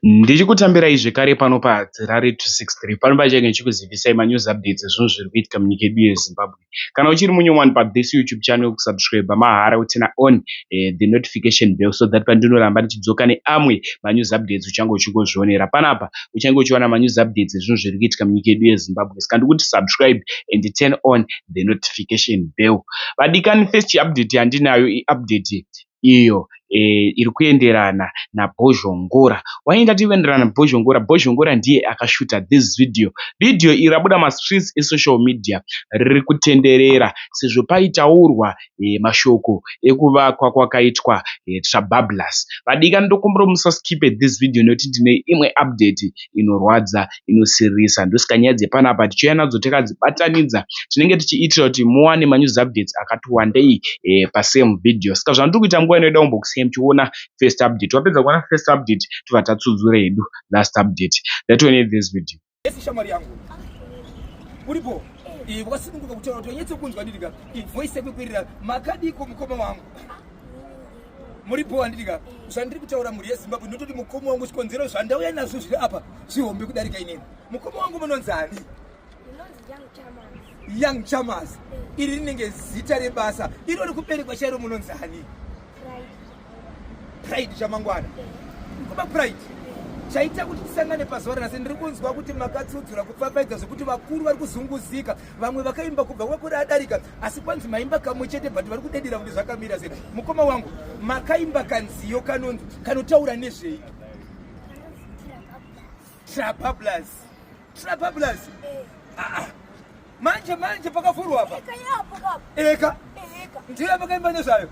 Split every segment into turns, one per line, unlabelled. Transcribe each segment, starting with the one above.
Ndichikutambirai zvekare pano pa Harare 263 pano pachenge ndichikuzivisai ma news updates ezvinhu zviri kuitika munyika yedu ye Zimbabwe. Kana uchiri munyowani pa this YouTube channel kusubscriber mahara utina on eh, the notification bell so that pandinoramba ndichidzoka neamwe ma news updates uchange uchingozvionera panapa. Uchange uchiwana ma news updates ezvinhu zviri kuitika munyika yedu ye Zimbabwe. Saka ndikuti subscribe and turn on the notification bell. Vadikani first update yandinayo i update iyo iri kuenderana naBhozhongora. Why ndati iri kuenderana naBhozhongora? Bhozhongora ndiye akashuta this video. Video iri rabuda mumastreets esocial media riri kutenderera sezvo paitaurwa mashoko ekuvakwa kwakaitwa Trabablas. Vadikani ndokumbirawo musaskipe this video nekuti ndine imwe update inorwadza. inosiririsa. Ndosaka nyaya dzepanapa tichiuya nadzo takadzibatanidza tinenge tichiitira kuti muwane ma news updates akati wandei pa same video. Saka zvandiri kuita nguva inoda kumbokusiya muchiona first update. Wapedza kuona first update tobva tatsudzura hedu last update. Ndatione this video. Esi shamwari yangu.
Uripo? Eh, wakasununguka kutaura kuti wanyatsokunzwa ndiri ka. Voice yako ikwirira. Makadiko mukoma wangu. muri bho handiti ka zvandiri kutaura mhuri yezimbabwe ndinototi mukoma wangu zvikonzero zvandauya nazvo zviri apa zvihombe kudarika inini mukoma wangu munonzi ani young chamas iri rinenge zita rebasa iro rikuberekwa chairo munonzi ani pride chamangwana kuba pride chaita kuti tisangane pazuva ranhasi ndiri kunzwa kuti makatsudzura kupfapfaidza zvekuti vakuru vari kuzunguzika vamwe vakaimba kubva kwakore adarika asi kwanzi maimba kamwe chete but vari kudedera kuti zvakamira sei mukoma wangu makaimba kanziyo kanonzi kanotaura nezvei trapablas trapablas aa manje manje pakavhurwa apa eka ndiyo yamakaimba nezvayo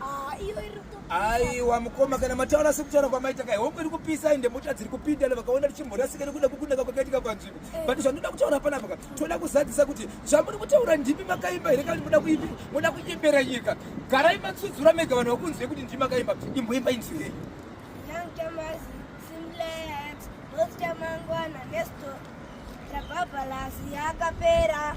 aiwa mukoma kana mataura sekutaura kwamaita kai hombe iri kupisa ende mota dziri kupinda vakaona tichimborasika nekuda kukunaka kwakaitika panzvimbo but zvandoda kutaura panapa ka toda kuzadzisa kuti zvamuri kutaura ndimi makaimba here kana moda kuimba moda kunyembera nyika garai matsudzura mega vanhu vakunzwei kuti ndimi makaimba imboimba inzwirei
mangwana nesto rabhabhalasi yakapera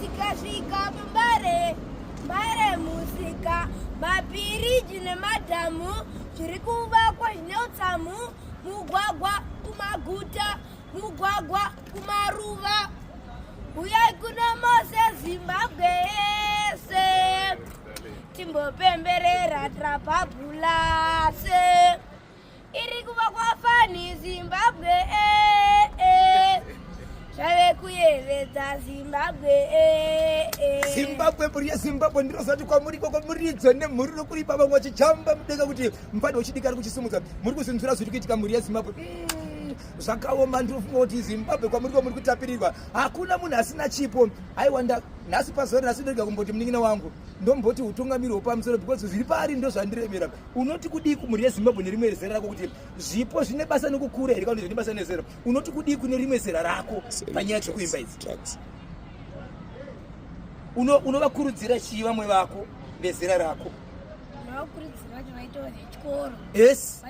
tikasvika pambare mbare musika mapiriji nemadhamu zviri kuvakwa zvine utsamu mugwagwa kumaguta mugwagwa kumaruva huyai kuno mose zimbabwe yese timbopemberera trapabulase irikuva kwafani zimbabwe eh, eh. zvave kuyevedza zimbabwe eh,
zimbabwe mhuri yezimbabwe ndinozati kwamuri ikoko muridzo nemhuri nokuripa vamwe vachichamba mudenga kuti mufana uchidika ari kuchisimudza muri kuzinzura zviri kuitika mhuri yezimbabwe mm zvakaoma ndinofunga kuti zimbabwe kwamuri kwamuri kutapirirwa hakuna munhu asina chipo aiwanda nhasi pazuva rinasi ndoiga kumboti munin'ina wangu ndomboti utungamiri hwepamusoro because zviri paari ndozvandiremera unoti kudii kumhuri yezimbabwe nerimwe zera rako kuti zvipo zvine basa nekukura here kana zvine basa nezera unoti kudii kune rimwe zera rako panyaya dziri kuimba idzi unovakurudzira chii vamwe vako vezera rako
yes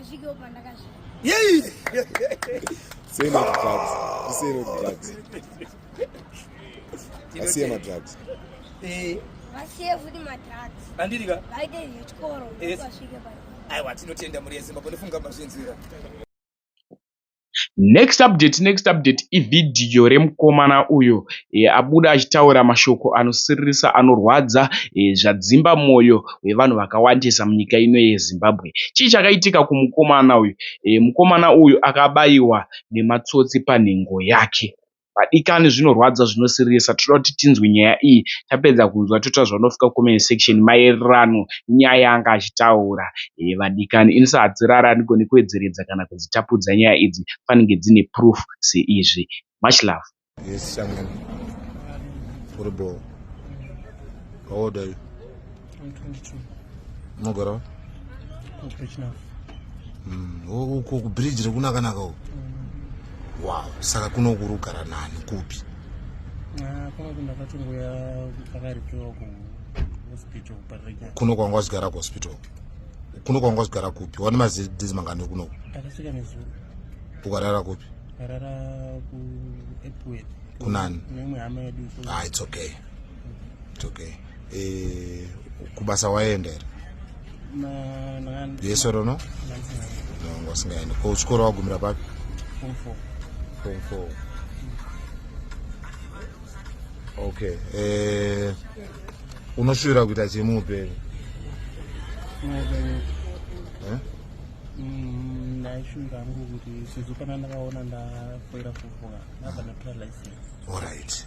yei asiye madrugs eh
asiye futi madrugs andiri ka vaite
zvechikoro
vasvike pa aiwa tinotenda mhuri
yezimbabwe ndofunga mazvinzwira
next update next update ivhidhiyo remukomana uyo e, abuda achitaura mashoko anosiririsa anorwadza e, zvadzimba mwoyo wevanhu vakawandisa munyika ino yezimbabwe chii chakaitika kumukomana uyu e, mukomana uyu akabayiwa nematsotsi panhengo yake vadikani zvinorwadza zvinosirisa toda kuti tinzwe nyaya iyi tapedza kunzwa toita zvaunofika comment section maererano nyaya yaanga achitaura ee vadikani ini sahadzirara andigoni kuedzeredza kana kudzitapudza nyaya idzi fanenge dzine proof seizvi much love yes,
unogara
wa mm, uko kubridge rekunakanaka uko mm. wow saka kuno kuri kugara nani kupi ah,
kuno kwanga wachigara
kuhospital kuno kwanga wachigara kupi wani mazidhizi mangani kunoko ukarara
kupi kunani ah, it's okay
it's okay eh, kubasa waenda here yes or no no ngasingaendi ko chikoro wagumira papi form four
form
four okay eh unoshuvira kuita chii muupenyu eh? mm,
ndaishuvira hangu kuti sezvo kana ndakaona ndafoira kufuka ndabva ndatora license allright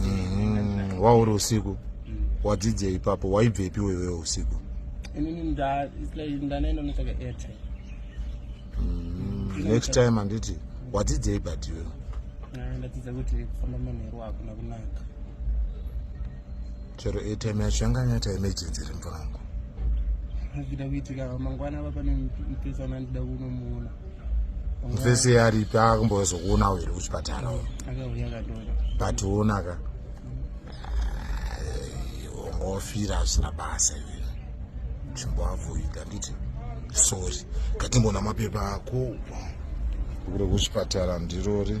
mm-hmm. wauri
usiku mm. wadzidzei ipapo waibvepi wewewo usiku mm. next time handiti wadzidzei but iwewe ah, ndadzidza
kuti kufamba manheru hakuna kunaka
chero atm yacho yanga yanyata emergency iri mvura yangu hazvida
kuitika mangwana ava pane mupesi ana ndida kunomuona mupesi
aripi akumbozokuona uiri kuchipatara u akauya katora
but uonaka
ungofira asina basa iwe chimboavoida nditi sorry ngatimboona mapepa ako kure kuchipatara ndirori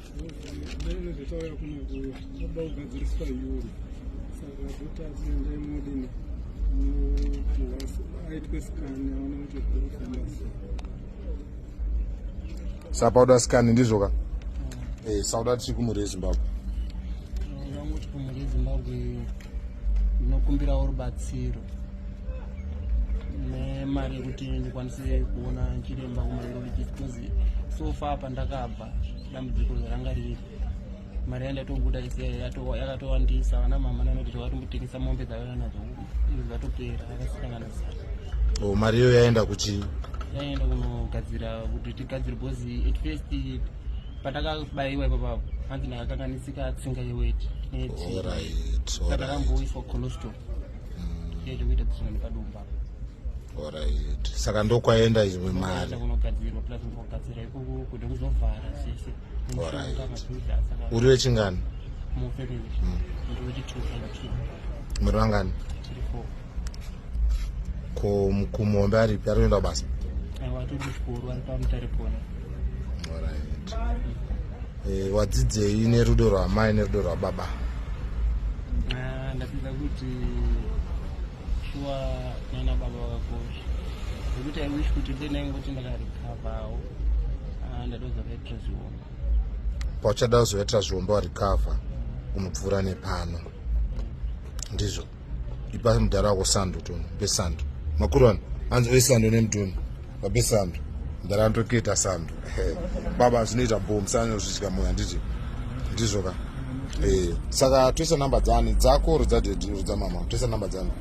sapauda sikani ndizvoka eh, sauda tiri kumhuri yezimbabwe
vangoti kumhuri yezimbabwe ndinokumbirawo rubatsiro nemari yekuti ndikwanise kuona chiremba kumaerologist because so far pandakabva dambudziko ranga riri mari yandatobuda yakatowandisa vana mama nanoti zvavatombotengesa mombe dzavana nadzo zvatopera akasikanana zana o oh, mari iyo yaenda
kuchii yaenda
kunogadzira kuti tigadzire bhozi at first patakabayiwa ipapapo hanzi ndakakanganisika tsinga yeweti netsika takamboiswa colostro mm. yezvekuita dzisina nepadumba Alright.
Saka ndokwaenda imwe mari.
Alright.
Uri wechingani? Hmm.
Muri
vangani?
Ko kumombe aripi ari
kuenda basa?
Alright.
Eh, wadzidzei nerudo rwamai nerudo rwababa? Ah,
ndadzidza kuti shuwa nana baba vakakosha zvekuti i wish kuti dei ndaingoti ndakarecoverwo
ah, ndadoza vaitira zviomba pauchada kuzovaitira zviomba warecover unopfuura nepano ndizvo ipa mudhara wako sando toni mpe sando makurwani hanzi oisando nemutoni babe sando ndarandoketa sando baba zvinoita bho musana zvichika moyo handiti ndizvo ka eh, saka toisa namba dzani dzako ro dzadedi ro dzamama toisa namba dzani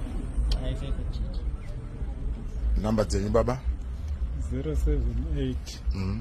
namba dzenyu baba 078 mm
-hmm.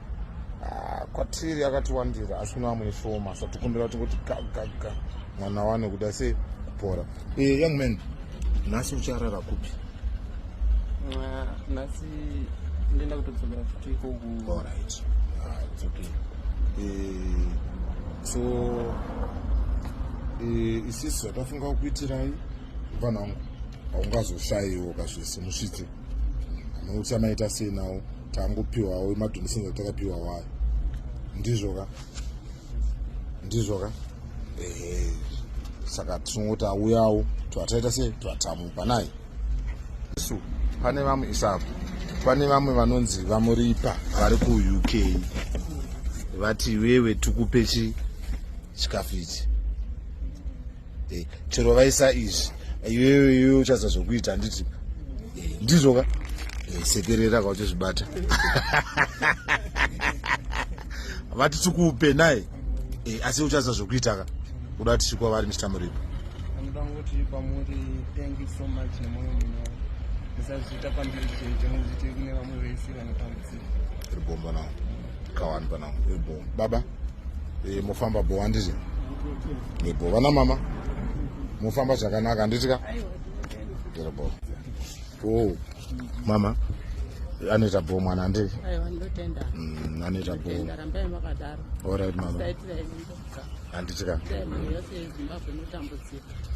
Ah, kwatiri akatiwandira asi kune vamwe shoma sa tikumbira kuti kuti gagaga mwana wane kuti ase kupora e eh, young man nhasi ucharara kupi
nhasi ndienda kutodzokera futi ikoku orit ah, its
okay eh, so eh, isisu zvatafunga kukuitirai vanhu vangu haungazoshayiwo kazvese musvitse anoutya maita sei nawo tangopiwawo imadhonesons atakapiwa wayo ndizvo ka ndizvo ka ehe saka tinongoti auyawo twataita sei twatamupa naye isu pane vamwe isapo pane vamwe vanonzi vamuripa vari kuuk vati iwewe tikupe chi chikafu ichi eh, chero vaisa izvi iwewe iwewe uchaza zvokuita handiti eh, ndizvo ka eh, sekerera ka uchizvibata vati tikupe naye eh, asi uchaza zvokuita ka kuda kuti chikwa vari mr muripo
ribomba navo
kawani pana ebo eh, baba e, mofamba bo handiti ebo eh, vana mama mofamba zvakanaka handiti ka ndiri bo o oh, mama anoita bo mwana handiti mm, anoita bo orit mama handiti ka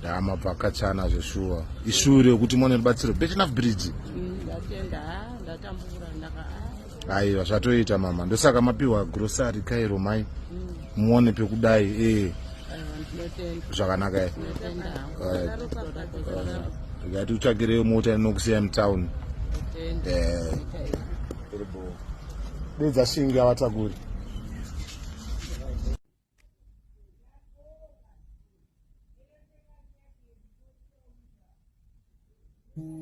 ya mapakachana zveshuwa ishure yekuti mwana ribatsiro betinaf bridge mm, aiwa zvatoita mama ndosaka mapiwa grocery kairo mai muone pekudai ee zvakanaka e ndikati utsvakireyo mota inokusiya mutown eh. dedza shingi avatakuri Mm-hmm.